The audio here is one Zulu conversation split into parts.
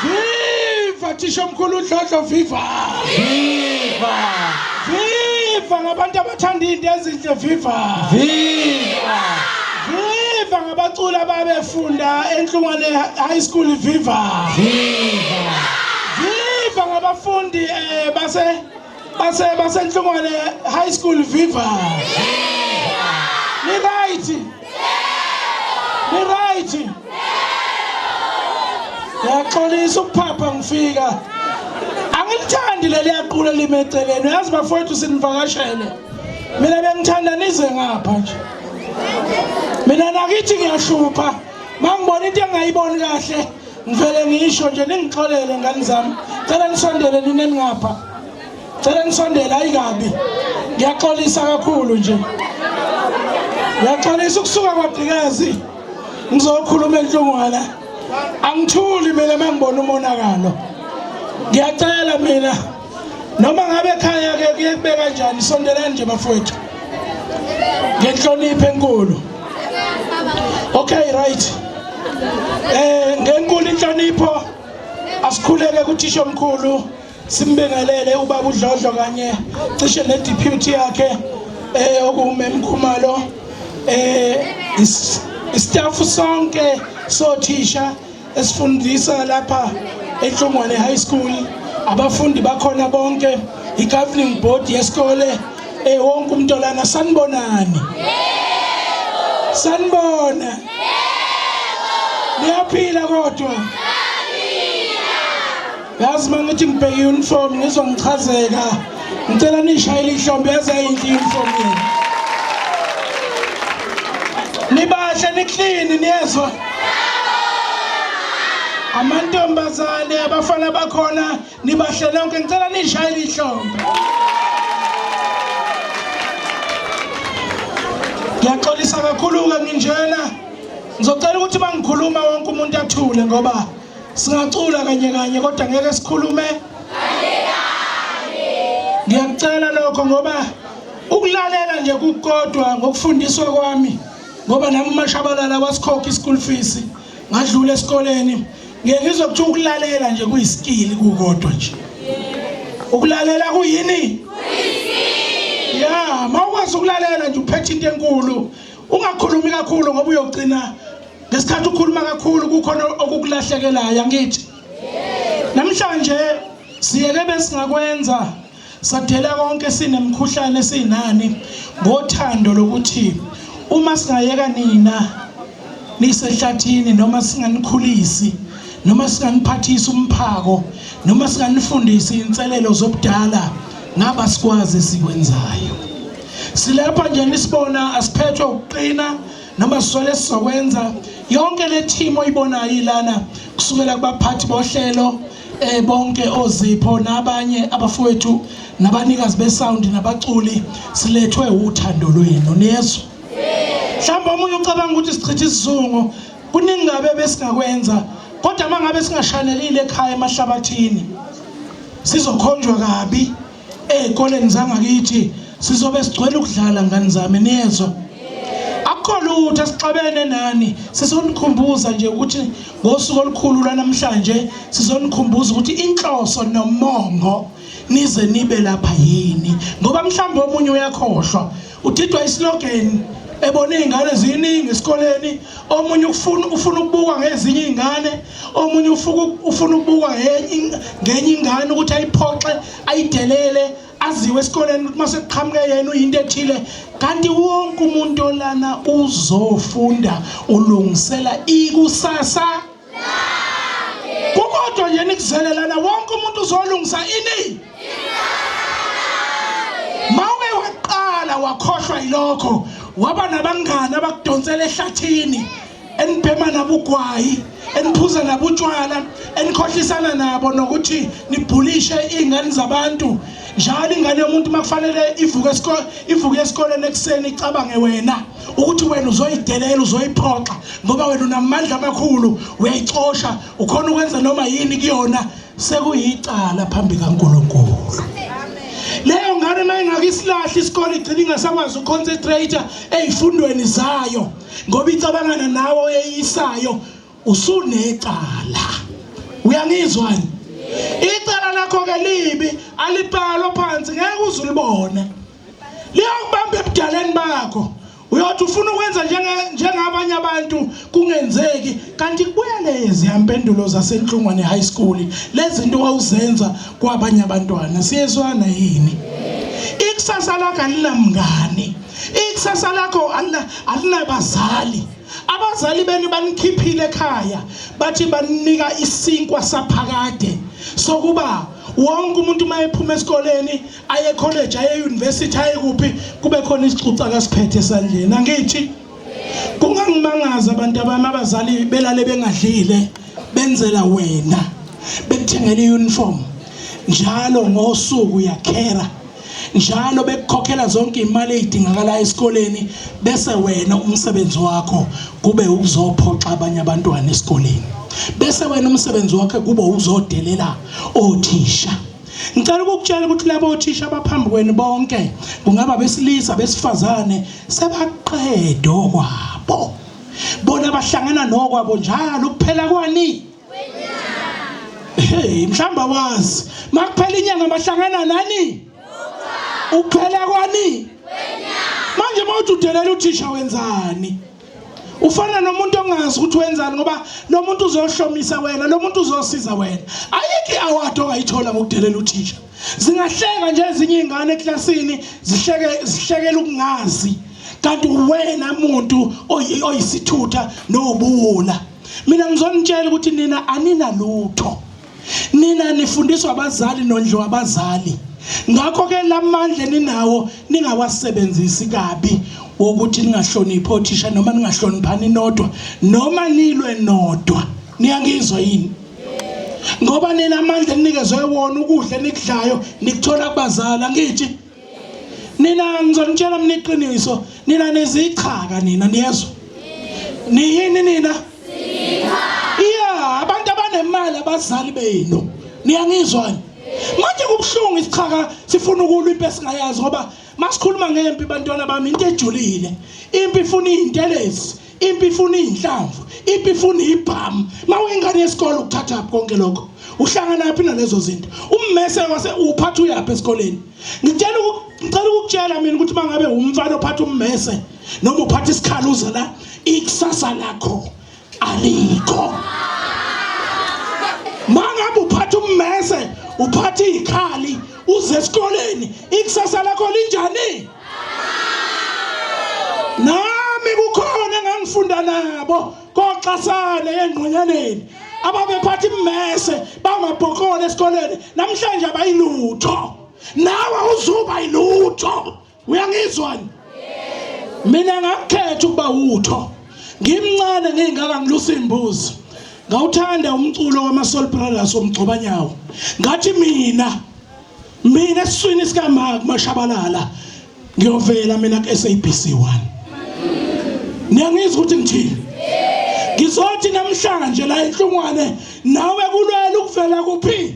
Viva Thishomkhulu Dlodlo viva. Viva. Viva ngabantu abathanda into ezinhle viva. Viva. Viva ngabaculi ababefunda enhlungwane high school viva. Viva. Viva ngabafundi eh base Base base Nhlungwane High School viva. Ni right. Ni right. Ngiyaxolisa ukuphapha ngifika. Angilithandi leli yaqula limeceleni. Uyazi bafowethu sinivakashele. Mina bengithanda nize ngapha nje. Mina nakithi ngiyahlupha. Mangibona into engayiboni kahle. Ngivele ngisho nje ningixolele ngani zami. Cela nisondele nina ningapha. Cela nisondele ayikabi. Ngiyaxolisa kakhulu nje. Ngiyaxolisa ukusuka kwaDikazi. Ngizokhuluma enhlungwana. Angithuli mina mangibona umonakalo. Ngiyacela mina noma ngabe ekhaya ke kuye kube kanjani sondelani nje bafowethu ngenhlonipho enkulu okay right eh ngenkulu inhlonipho asikhuleke kuthisha omkhulu simbingelele ubaba udlodlo kanye cishe ne deputy yakhe eh okumemkhumalo eh istaff sonke sothisha esifundisa lapha eNhlongwane High School abafundi bakhona bonke i-governing board yesikole eh wonke umntolana sanibonani sanibona niyaphila kodwa yazi uma ngithi ngibheke i-uniform ngizwa ngichazeka ngicela niyishayele ihlombe yaze yayinhle i-uniform yenu nibahle niklini niyezwa amantombazane abafana bakhona nibahle nonke ngicela niyishayele ihlombe ngiyaxolisa kakhulu-ke nginjena ngizocela ukuthi uma ngikhuluma wonke umuntu athule ngoba Singacula kanye kanye kodwa ngeke sikhulume kanye kanye. Ngiyakucela lokho ngoba ukulalela nje kukodwa ngokufundiswa kwami ngoba nami umashabalala wasikhokha i-school fees ngadlula esikoleni ngeke ngizwe kuthiwa ukulalela nje kuyisikili kukodwa nje ukulalela kuyini ya ma ukwazi ukulalela nje uphethe into enkulu ungakhulumi kakhulu ngoba uyogcina ngesikhathi ukhuluma kakhulu kukhona okukulahlekelayo angithi namhlanje siyeke besingakwenza sadela konke sinemkhuhlane sinani ngothando lokuthi uma singayeka nina nisehlathini noma singanikhulisi noma singaniphathisa umphako noma singanifundisi inselelo zobudala ngaba sikwazi sikwenzayo silapha nje nisibona asiphethwe ukuqina noma sisole sizokwenza yonke le team oyibonayo ilana kusukela kubaphathi bohlelo eh bonke ozipho nabanye abafowethu nabanikazi besound nabaculi silethwe uthando lwenu niyezwa mhlawumbe omunye ucabanga ukuthi sichitha isizungu kuningi ngabe besingakwenza kodwa mangabe singashanelile ekhaya emahlabathini sizokhonjwa kabi Ezikoleni zangakithi sizobe sigcwele ukudlala ngane zami niyezwa. Akukho lutho esixabene nani sizonikhumbuza nje ukuthi ngosuku olukhulu lwanamhlanje sizonikhumbuza ukuthi inhloso nomongo nize nibe lapha yini ngoba mhlawumbe omunye uyakhohlwa Udidwa islogeni ebona izingane ziningi esikoleni, omunye ufuna ufuna ukubukwa ngezinye izingane, omunye ufuku ufuna ukubukwa ngenye ngenye ingane ukuthi ayiphoxe, ayidelele, aziwe esikoleni ukuthi mase kuqhamuke yena uyinto ethile. Kanti wonke umuntu olana uzofunda ulungisela ikusasa. kukodwa nje nikuzelelana wonke umuntu uzolungisa ini mawuke waqala wakhohlwa yilokho waba nabangani abakudonsela ehlathini enibhema nabo ugwayi eniphuza nabo utshwala enikhohlisana nabo nokuthi nibhulishe iy'ngane zabantu njalo ingane yomuntu uma kufanele ivuke esikoleni ekuseni icabange wena ukuthi wena uzoyidelela uzoyiphoxa ngoba wena unamandla amakhulu uyayicosha ukhona ukwenza noma yini kuyona sekuyicala phambi kaNkuluNkulu leyo ngane mayingakisilahle isikole igcina ingasakwazi uconcentrate ezifundweni zayo ngoba icabangana nawe oyeyisayo usunecala uyangizwani icala lakho ke libi alibhalwa phansi ngeke uzulibone liyakubamba ebudaleni bakho uyothi ufuna ukwenza njengabanye abantu kungenzeki kanti kubuya leziyampendulo zasenhlungwane high school lezinto wawuzenza kwabanye abantwana siyezwana yini ikusasa lakho alinamngane ikusasa lakho alinabazali abazali benu banikhiphile ekhaya bathi baninika isinkwa saphakade sokuba wonke umuntu uma ephuma esikoleni aye college aye university aye kuphi kube khona isixuxa akasiphethe esandleni angithi kungangimangaza abantu abami abazali belale bengadlile benzela wena bekuthengela iuniform njalo ngosuku yakhera njalo bekukhokhela zonke imali ezidingakala esikoleni bese wena umsebenzi wakho kube ukuzophoxa abanye abantwana esikoleni bese wena umsebenzi wakhe kube uzodelela othisha Ngicela ukukutshela ukuthi labo othisha abaphambi kwenu bonke kungaba besilisa besifazane sebaqede okwabo. Bona bahlangana nokwabo njalo kuphela kwani? Hey, mhlamba wazi. Makuphela inyanga bahlangana nani? Uphela kwani? Manje mawuthi udelela uthisha wenzani? ufana nomuntu ongazi ukuthi wenzani ngoba lo muntu uzohlomisa wena lo muntu uzosiza wena ayikho i-award ongayithola ngokudelela uthisha zingahleka nje ezinye iy'ngane eklasini zihleke zihlekela ukungazi kanti uwena muntu oyisithutha nowubuwula mina ngizonitshela ukuthi nina aninalutho nina nifundiswa abazali nondliwa abazali ngakho ke lamandla ninawo ningawasebenzisi kabi wokuthi ningahloniphi othisha noma ningahloniphani nodwa noma nilwe nodwa niyangizwa yini ngoba nina amandla eninikezwe wona ukudla enikudlayo nikuthola kubazali angithi nina ngizonitshela mina iqiniso nina nizichaka nina niyezwa niyini nina iya abantu abanemali abazali benu niyangizwani manje kubuhlungu isichaka sifuna ukulwa impi esingayazi ngoba masikhuluma ngempi bantwana bami into ejulile impi ifuna izintelezi impi ifuna izinhlamvu impi ifuna ibhamu mawuyingane yesikole ukuthatha konke lokho uhlangana phi nalezo zinto ummese wase uphatha uyaphi esikoleni ngitshela ngicela ukukutshela mina ukuthi mangabe umfana ophatha ummese noma uphatha isikhala uze la ikusasa lakho alikho mangabe uphatha ummese uphatha izikhali uze esikoleni ikusasa lakho linjani nami kukhona ngangifunda nabo koxasane engqonyaneni ababephatha immese bamabhokole esikoleni namhlanje abayilutho nawe uzuba yilutho uyangizwani mina ngakukhetha ukuba wutho ngimncane ngingaka ngilusa imbuzi ngawuthanda umculo wama Soul Brothers omgcobanyawo ngathi mina mina esiswini sikamaka kumashabalala ngiyovela mina ku-sabc 1 niyangizwa ukuthi ngithini ngizothi namhlanje la inhlungwane nawe kulwela ukuvela kuphi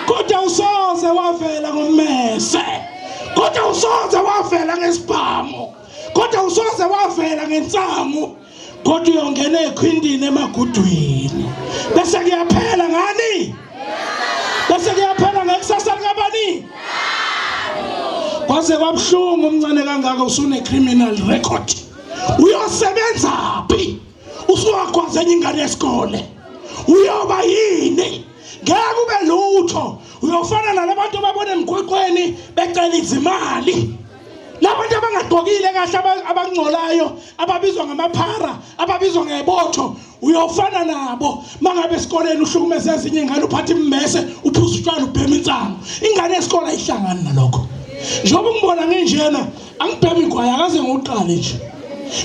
kodwa usoze wavela ngommese kodwa usoze wavela ngesibhamu kodwa usoze wavela ngensangu kodwa uyongena ekhwindini emagudwini bese kuyaphela ngani bese kuyaphela ngekusasa likabani kwaze kwabuhlungu umncane kangaka usune-criminal record uyosebenza phi usuwagwaza enye ingane yesikole uyoba yini ngeke ube lutho uyofana nalabantu ababona emgwaqweni becela izimali labantu abangagqokile kahle abangcolayo ababizwa ngamaphara ababizwa ngebotho uyofana nabo mangabe esikoleni uhlukumeza ezinye ingane uphatha immese uphuza utshwala ubhema insango ingane yesikole ayihlangani nalokho njengoba ngibona nginjena angibhemi igwayi akaze ngiwuqale nje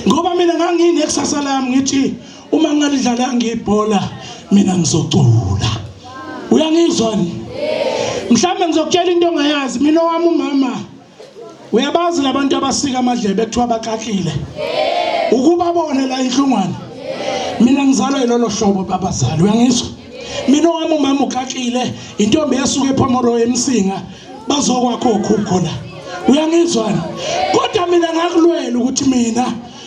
ngoba mina ngangiyine kusasa lami ngithi uma ngingalidlalanga ibhola mina ngizocula uyangizwa ni mhlawumbe ngizokutshela into ongayazi mina owami umama uyabazi labantu abasika amadlebe kuthiwa bakakile ukuba bone la inhlungwane mina ngizalwa yilolo hlobo babazali uyangizwa mina owami umama ukakile intombi yasuka ephomoro emsinga bazokwakho khukho la uyangizwa kodwa mina ngakulwela ukuthi mina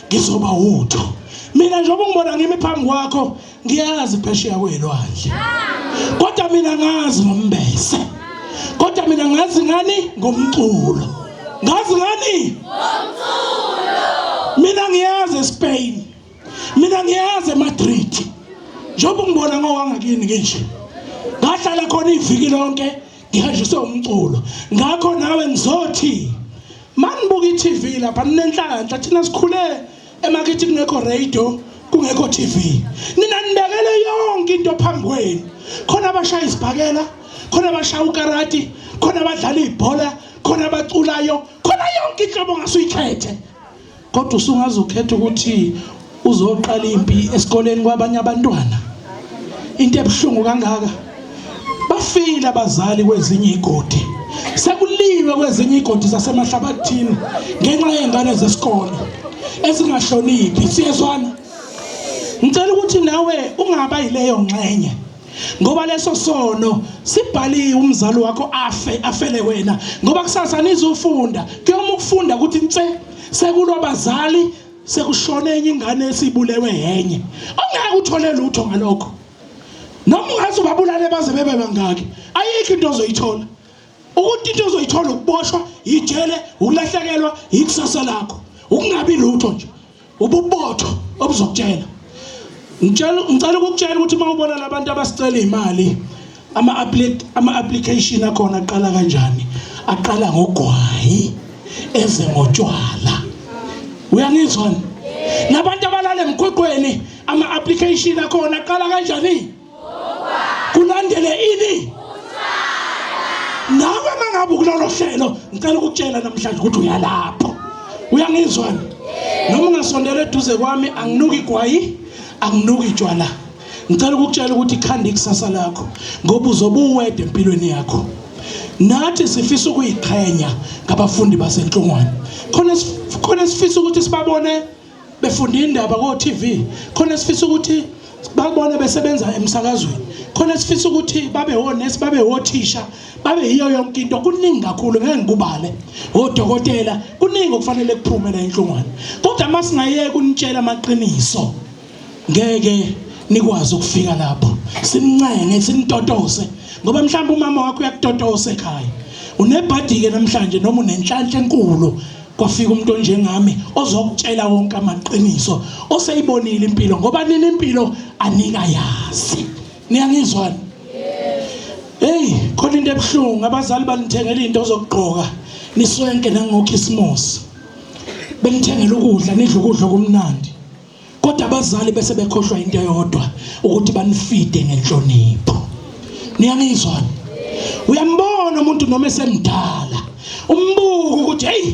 ngizoba wutho mina njengoba ngibona ngimi phambi kwakho ngiyazi phesheya kwelwandle kodwa mina ngazi ngombese kodwa mina ngazi ngani ngomculo ngazi ngani ngomculo mina ngiyazi eSpain mina ngiyazi eMadrid njengoba ngibona ngowangakini nginje ngahlala khona iviki lonke ngihanjiswe umculo ngakho nawe ngizothi manibuka i-TV lapha ninenhlanhla thina sikhule emakithi kungekho radio kungekho TV nina nibekele yonke into phambi kwenu khona abashaya isibhakela khona abashaya ukarati khona abadlala ibhola khona abaculayo khona yonke inhlobo ongasuyikhethe Kodwa usungaze ukhethe ukuthi uzoqala impi esikoleni kwabanye abantwana. Into ebuhlungu kangaka. Bafile abazali kwezinye igodi. Sekuliwe kwezinye igodi zasemahlabathini ngenxa yengane zesikole ezingahloniphi. Siyezwana. Ngicela ukuthi nawe ungaba yileyo ngxenye. ngoba leso sono sibhaliwe umzali wakho afe afele wena ngoba kusasa nizofunda kuyoma ukufunda ukuthi nse sekulwa bazali sekushone enye ingane esibulewe yenye ongeke uthole lutho ngalokho noma ungathi ubabulale baze bebe bangaki ayikho into ozoyithola ukuthi into ozoyithola ukuboshwa yijele ukulahlekelwa yikusasa lakho ukungabi lutho nje ububotho obuzokutshela ngitshela ngicela ukukutshela ukuthi uma ubona labantu abasicela imali ama ama application akhona aqala kanjani aqala ngogwayi eze ngotshwala uyangizwa labantu abalala emgwaqweni ama application akhona aqala kanjani kulandele ini nawe mangabe ukulolo hlelo ngicela ukutshela namhlanje ukuthi uyalapho uyangizwani noma ungasondela eduze kwami anginuki igwayi anginuki itshwala ngicela ukukutshela ukuthi ikhanda ikusasa lakho ngoba uzobe uwede empilweni yakho nathi sifisa ukuyiqhenya ngabafundi basenhlungwane khona khona sifisa ukuthi sibabone befunda indaba ko TV khona sifisa ukuthi babone besebenza emsakazweni khona sifisa ukuthi babe honest babe hothisha babe yiyo yonke into kuningi kakhulu ngeke ngikubale odokotela kuningi okufanele kuphume la enhlungwane kodwa uma singayeke unitshela amaqiniso ngeke nikwazi ukufika lapho simncenge simtotose ngoba mhlawumbe umama wakho uyakutotose ekhaya unebhadi-ke namhlanje noma unenhlanhla enkulu kwafika umuntu onjengami ozokutshela wonke amaqiniso oseyibonile impilo ngoba nini impilo anika yazi niyangizwani hey khona into ebuhlungu abazali banithengela into ozokugqoka niswenke nangokhisimusi benithengela ukudla nidla ukudla okumnandi kodwa abazali bese bekhohlwa into eyodwa ukuthi banifide ngenhlonipho niyangizwa uyambona umuntu noma esemdala umbuka ukuthi hey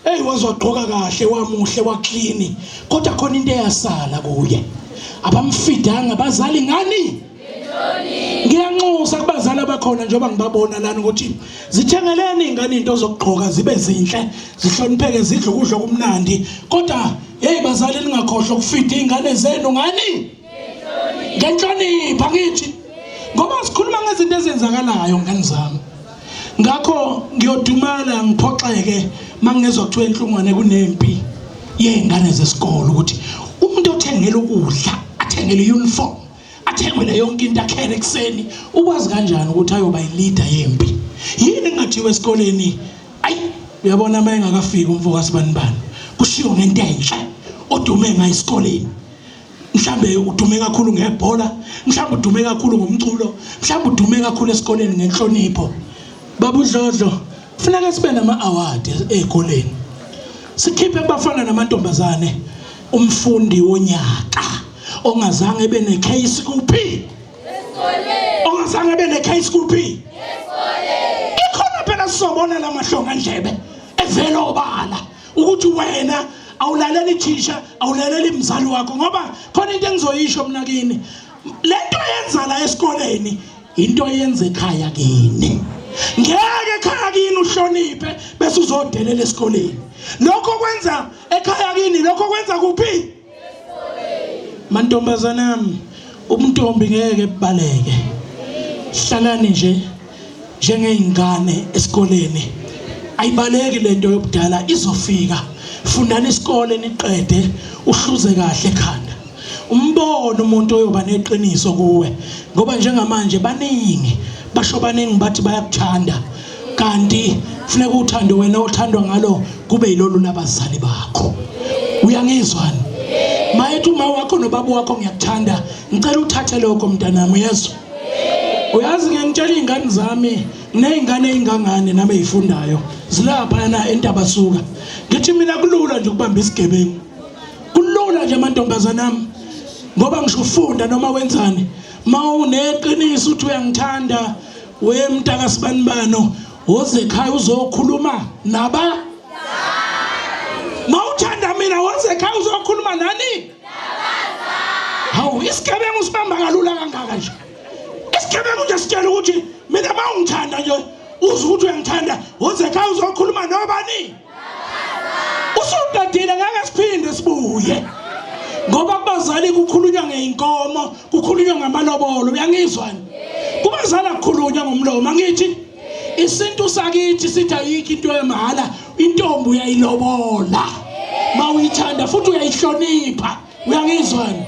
hey wazogqoka kahle wamuhle waclean kodwa khona into eyasala kuye abamfidanga bazali ngani ngiyanxusa kubazali abakhona njengoba ngibabona lana ukuthi zithengeleni ingane into zokugqoka zibe zinhle zihlonipheke zidle ukudla okumnandi kodwa hey bazali ningakhohlwa ukufida ingane zenu ngani ngenhlonipha ngithi ngoba sikhuluma ngezinto ezenzakalayo ngani zami ngakho ngiyodumala ngiphoxeke mangezwa kuthiwa enhlungwane kunempi yey'ngane zesikole ukuthi umuntu othengela ukudla athengele i-uniform athengwele yonke into akhele ekuseni ukwazi kanjani ukuthi ayoba yileader yempi yini engathiwa esikoleni ayi uyabona uma engakafiki umfo kasibanibani kushiwo ngento enhle odume ngayo esikoleni mhlambe udume kakhulu ngebhola mhlambe udume kakhulu ngomculo mhlambe udume kakhulu esikoleni ngenhlonipho babudlodlo kufuneka sibe nama-award ey'koleni sikhiphe kubafana namantombazane Umfundi wonyaka ongazange ebe ne case kuphi? Esikoleni. Ongazange ebe ne case kuphi? Esikoleni. Ikhona phela sizobona lamahlonga ndlebe evela obala ukuthi wena awulaleli thisha awulaleli mzali wakho ngoba khona into engizoyisho mina kini lento yenza la esikoleni into yenza ekhaya kini ngeke ekhaya kini uhloniphe bese uzodelela esikoleni lokho kwenza ekhaya kini lokho kwenza kuphi mantombazana yami ubuntombi ngeke bubaleke hlalani nje njengeyingane esikoleni ayibaleki lento yobudala izofika fundani isikole niqede uhluze kahle ekhanda umbone umuntu oyoba neqiniso kuwe ngoba njengamanje baningi basho baningi bathi bayakuthanda kanti funeka uthando wena othandwa ngalo kube yilolu labazali bakho uyangizwani mayethi uma wakho nobaba wakho ngiyakuthanda ngicela uthathe lokho mntanami uyezwa uyazi ngiyangitshela iy'ngane zami ney'ngane ey'ngangane nami ey'fundayo zilaphayana entabasuka ngithi mina kulula nje ukubamba isigebengu kulula nje amantombazane ami ngoba ngisho ufunda noma wenzani ma uneqiniso uthi uyangithanda We mntaka sibanibano woze ekhaya uzokhuluma naba mawuthanda mina woze ekhaya uzokhuluma nani hawu isigebengu usibamba kalula kangaka nje isigebengu nje sitshela ukuthi mina mawungithanda nje uze ukuthi uyangithanda woze ekhaya uzokhuluma nobani usuqedile ngeke siphinde sibuye ngoba kubazali kukhulunywa ngeyinkomo kukhulunywa ngamalobolo uyangizwani kubazali akukhulunywa ngomlomo angithi isintu sakithi sithi ayikho into yemahhala intombi uyayilobola mawuyithanda futhi uyayihlonipha uyangizwani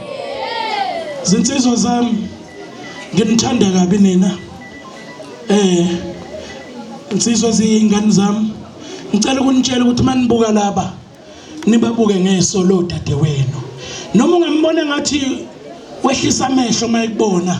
zinsizwa zami nginithanda kabi nina eh insizwa ziyingane zami ngicela ukunitshela ukuthi manibuka laba nibabuke ngeso lo dadewenu noma ungambona ngathi wehlisa amehlo mayekubona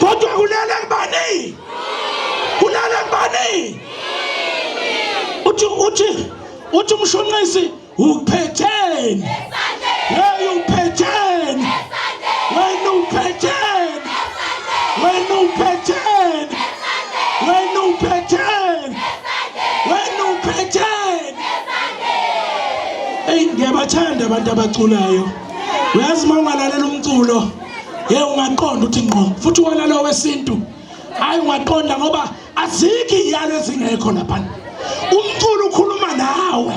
kodwa kulele kubani kulele kubani uthi uthi uthi umshunqisi uphetheni hey uphetheni wena uphetheni wena uphetheni wena uphetheni wena uphetheni hey ngiyabathanda abantu abaculayo uyazi uma ungalalela umculo ye ungaqonda ukuthi ngqo futhi wona lo wesintu hayi ungaqonda ngoba azikho iyalo ezingekho lapha umculo ukhuluma nawe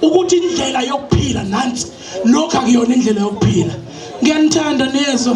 ukuthi indlela yokuphila nansi lokho akuyona indlela yokuphila ngiyanithanda niyezwa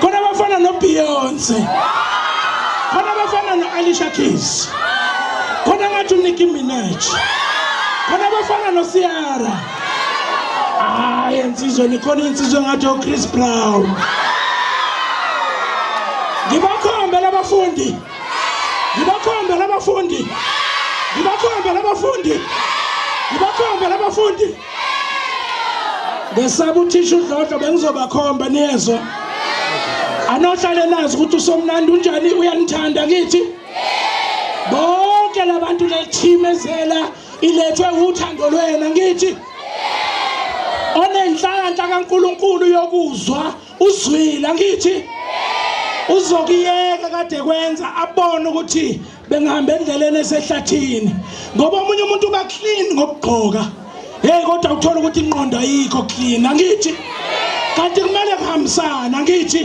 khona abafana nobeyonce khona abafana no-alisha keys khona ngathi unicki minaj khona abafana nosiara hayi ensizwe nikhona insizwe ngathi ochris brown ngibakhombe labafundi ngibakhombe labafundi ngibakhombe labafundi ngibakhombe labafundi ngesaba uthisha udlodlo bengizobakhomba niyezwa anohlale nazi ukuthi usomnandi unjani uyanithanda kithi bonke labantu lethimezela ilethwe uthando lwena ngithi onenhlanhla kaNkuluNkulu yokuzwa uzwile ngithi uzokuyeka kade kwenza abone ukuthi bengihamba endleleni esehlathini ngoba omunye umuntu uba clean ngokugqoka hey kodwa uthola ukuthi inqondo ayikho clean angithi kanti kumele kuhambisana angithi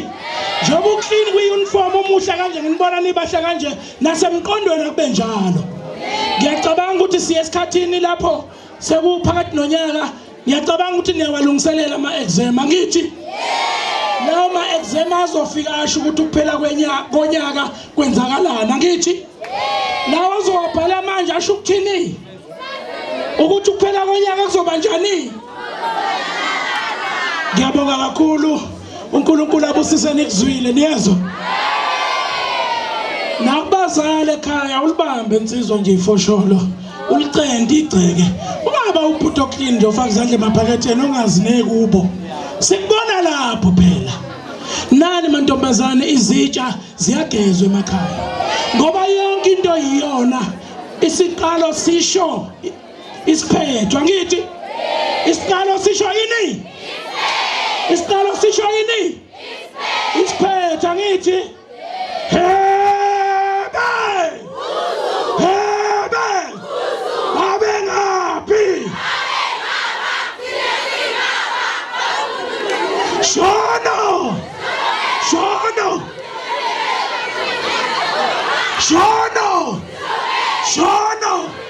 njengoba uclean kwi-uniform umuhle kanje nginibona nibahle kanje nasemqondweni akube njalo ngiyacabanga ukuthi siye esikhathini lapho Sekuphakathi nonyaka ngiyacabanga ukuthi niyawalungiselela ama-exam angithi lawo ma-exam azofika asho ukuthi ukuphela konyaka kwenzakalani angithi lawo azowabhala manje asho ukuthini ukuthi ukuphela konyaka kuzoba njani ngiyabonga kakhulu uNkulunkulu abusise nikuzwile niyezwa nakubazali ekhaya ulibambe insizwa nje ifosholo ulicente igceke ungaba ubhuti oclean nje ofaka izandla emaphaketheni ongazineki kubo sikubona lapho phela nani mantombazane izitsha ziyagezwa emakhaya ngoba yonke into yiyona isiqalo sisho isiphetho angithi isiqalo sisho yini isiqalo sisho yini isiphetho angithi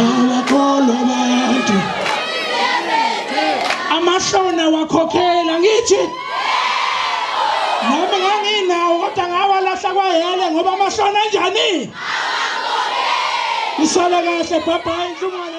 awakholwa abantu amahlona wakhokhela ngithi noma nganginawo kodwa ngawalahla kwayele ngoba amahlona enjani isale kahle bye bye inhlungwana